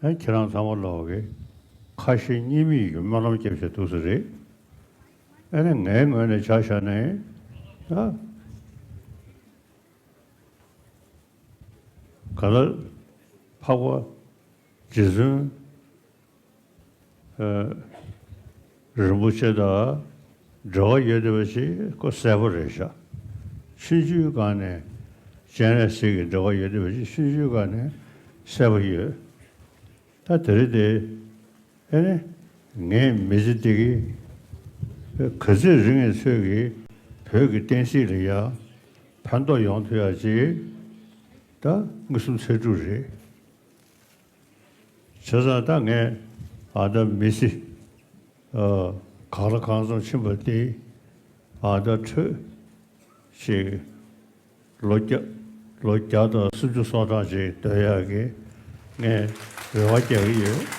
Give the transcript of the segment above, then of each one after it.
ཁྱེད་རང་ཚང་མ་ལོག་གི། ཁ་ཞེ་གཉིས་མེད་ཀྱི་སྨོན་ལམ་སྐྱབས་བཅས་ཐུགས་སུ་རེ། ཨ་ནི་ངའི་ངོས་ནས་བྱ་བཞག་ནི། ག་ལ་འཕགས་པ་རྗེ་བཙུན་རིན་པོ་ཆེ་དང་འབྲེལ་བ་ཡོད་བསྡད་པ་ཞིག་ཀོ་གསལ་པོ་རེད་ཤག་ཆུ་རྒྱུས་སྒང་ནས་སྤྱན་རས་གཟིགས་ཀྱི་འབྲེལ་བ་ཡོད་བསྡད་པ་ཞིག་ཆུ་རྒྱུས་སྒང་ནས་གསལ་པོ་ཡོད་ད་དེ་རེད་དེ་ཨེ་ནི་ངས་མི་ཚེ་འདི་གི་ག་ཚོད་རིང་ངས་ཚོད་ཀྱི་བོད་ཀྱི་བསྟན་སྲིད་ལ་ཡར་ཕན་ཐོག་ཡོང་ཐུབ་ཡག་ཅིག་ད་ངུ་སུམ་ཚེ་དྲུག་རེད། བྱས་ཙང་ད་ངས་ཨ་ད་མི་སི་ག་ར་གང་ཙམ་ཕྱིན་པ་དེ་ཨ་ད་ཁྲོད་ཅིག་ལོ་བརྒྱ་ལོ་བརྒྱ་དང་སུམ་ཅུ་སོ་གྲངས་ཅིག་སྡོད་ཡག་གི་ངས་རེ་བ་རྒྱག་གི་ཡོད།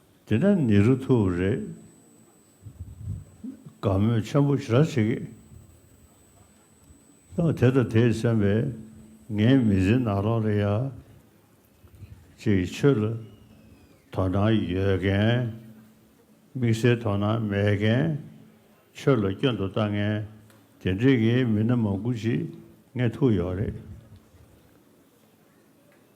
དེ་ན་ནི་རུ་ཐུ་རེ། དགའ་མོས་ཆེན་པོ་ར་བྱེད་ཀྱི། ད་དེ་ད་དེས་སེམས་པས་ངའི་མི་ཚེ་ནག་ལོག་རེད་ཡ། ཅེས་ཆོས་ལ་དོ་སྣང་ཡོད་མཁན། དམིགས་བསལ་དོ་སྣང་མེད་མཁན། ཆོས་ལ་སྐྱོན་དུ་ལྟ་མཁན་དེ་འདྲེས་ཀྱི་མི་སྣ་མང་པོ་ཞིག་ངའི་ཐུག་ཡོད་རེད།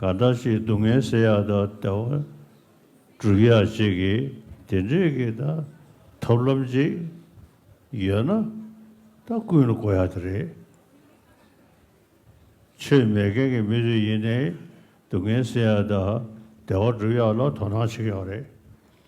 ག་འདྲ་ཞིག་སྡུག་བསྔལ་བསལ་ཡག་དང་བདེ་བ་སྒྲུབ་ཡག་ཅིག་གི་དེ་འདྲས་ཀྱི་ད་ཐབས་ལམ་ཅིག་ཡོད་ན་ད་ཀུན་ལ་གོ་ཡག་དེ་རེད། ཆོས་མེད་མཁན་གྱི་མི་ཚོས་ཡིན་ནའི་སྡུག་བསྔལ་བསལ་ཡག་དང་བདེ་བ་སྒྲུབ་ཡག་ལ་དོ་སྣང་བྱེད་ཀྱི་ཡོད་རེད།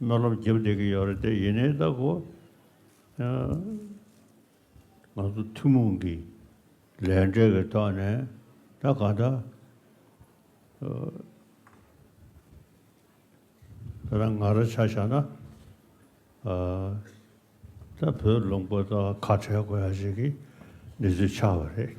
རྣ་ལམ་བརྒྱབ་བསྡད་ཀྱི་ཡོད་རེད་དེ་ཡིན་ནའི་ད་གོ། ང་ཚོ་ཐུན་མོང་གི་ལས་འབྲས་ཀྱི་ཐོག་ནས་ད་ག་ད་ད་ར་ང་ར་ཆ་བཞག་ན་ད་བོད་ལུང་པ་ད་ཁ་བྲལ་དགོས་ཡ་ཞིག་གི་གནས་ཚུལ་ཆགས་པ་རེད།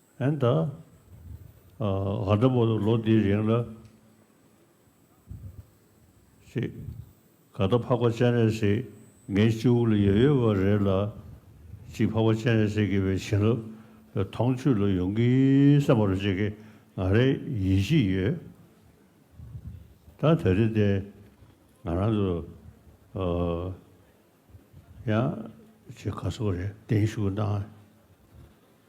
ཨན་ད། ང་འདྲ་པོ་ལོ་འདིའི་རིང་ལ། ཞེས། ག་ད་འཕགས་པ་སྤྱན་རས་གཟིགས་ངའི་སྤྱི་བོ་ལ་ཡོད་ཡོད་པ་རེད་ལ། ཅིག་འཕགས་པ་སྤྱན་རས་གཟིགས་ཀྱི་བའི་བྱིན་རླབས་ཐོང་ཆུ་ལ་ཡོང་གི་སེམས་པ་རུ་ཅིག་གི་ང་རེ་ཡིད་བཞིན་ཡོད། ད་དེ་རེ་དེ་ང་རང་ཚོ། ཡང། ཅིག་ག་སོགས་རེ་བདེན་བཞུགས་གནང།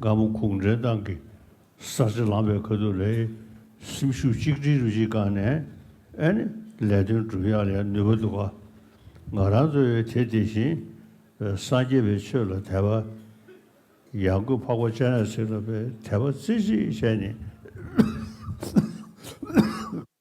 སྒམ་པོ་ཁུག་འདྲེན་ཏང་གི་གསར་བརྗེ་ལམ་བའི་ཁ་ཐུག་ལས་སེམས་ཤུགས་གཅིག་སྒྲིལ་རུ་གཅིག་བསྐངས་ནས་ཨནི་ལས་དོན་སྒྲུབ་ཡག་ལས་ནུས་པ་འདུག་ག་ང་རང་གཙོས་བའི་དེ་དེ་བཞིན་སངས་རྒྱས་པའི་ཆོས་ལ་དད་པ་ཡང་དགོས་འཕགས་པ་སྤྱན་རས་གཟིགས་ལ་བའི་དད་པ་རྩེ་གཅིག་བྱས་ནས།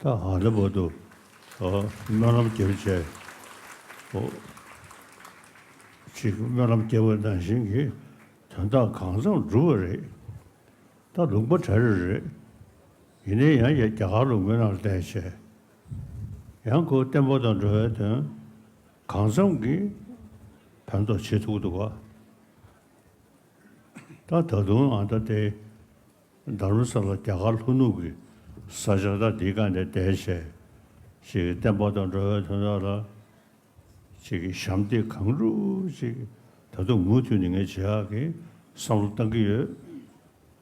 ད་ཧ་ལས་པོ་འདུག་སྨོན་ལམ་རྒྱས་པོ་བྱས། ཅིག་སྨོན་ལམ་རྒྱས་པོ་གནང་བཞིན་གྱི་དོན་དག་གང་འཚམས་བསྒྲུབས་པ་རེད། ད་ལུང་པ་གྲ་རེ་རེད། ཡིན་ནའི་ཡང་བསྐྱར་རྒྱ་གར་ལུང་མི་རྣམས་ལ་བལྟས་བྱས། ཡང་སྐུ་བརྟན་པོ་དང་འགྲོ་བའི་དོན་གང་འཚམས་ཀྱི་ཕན་ཐོགས་བྱེད་ཐུག་འདུག་བ། ད་ད་དུང་ཨ་མདའ་སྟེ། དར་མ་ས་ལ་རྒྱ་གར་ལྷོ་ནུབ་ཀྱི་ས་ཆ་དག་འདིའི་བཀའ་ནས་བསྡད། བྱས་ཀྱི་བསྟན་པ་དང་འགྲོ་བའི་དོན་དག་ལ། བྱས་ཀྱི་ཞབས་འདེགས་གང་བསྒྲུབས་བྱས་ཀྱི་ད་དུང་མུ་མཐུད་ནས་ངས་ཇེ་ཡག་གི་བསམ་བློ་བཏང་གི་ཡོད།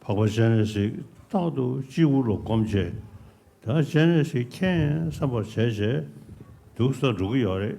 འཕགས་པ་སྤྱན་རས་གཟིགས་རྟག་ཏུ་སྤྱི་བོ་ལ་བསྒོམ་བྱས་ད་སྤྱན་རས་གཟིགས་མཁྱེན་བསམ་པར་བྱས་བྱས་འདུག་ས་འགྲོ་གི་ཡོད་རེད།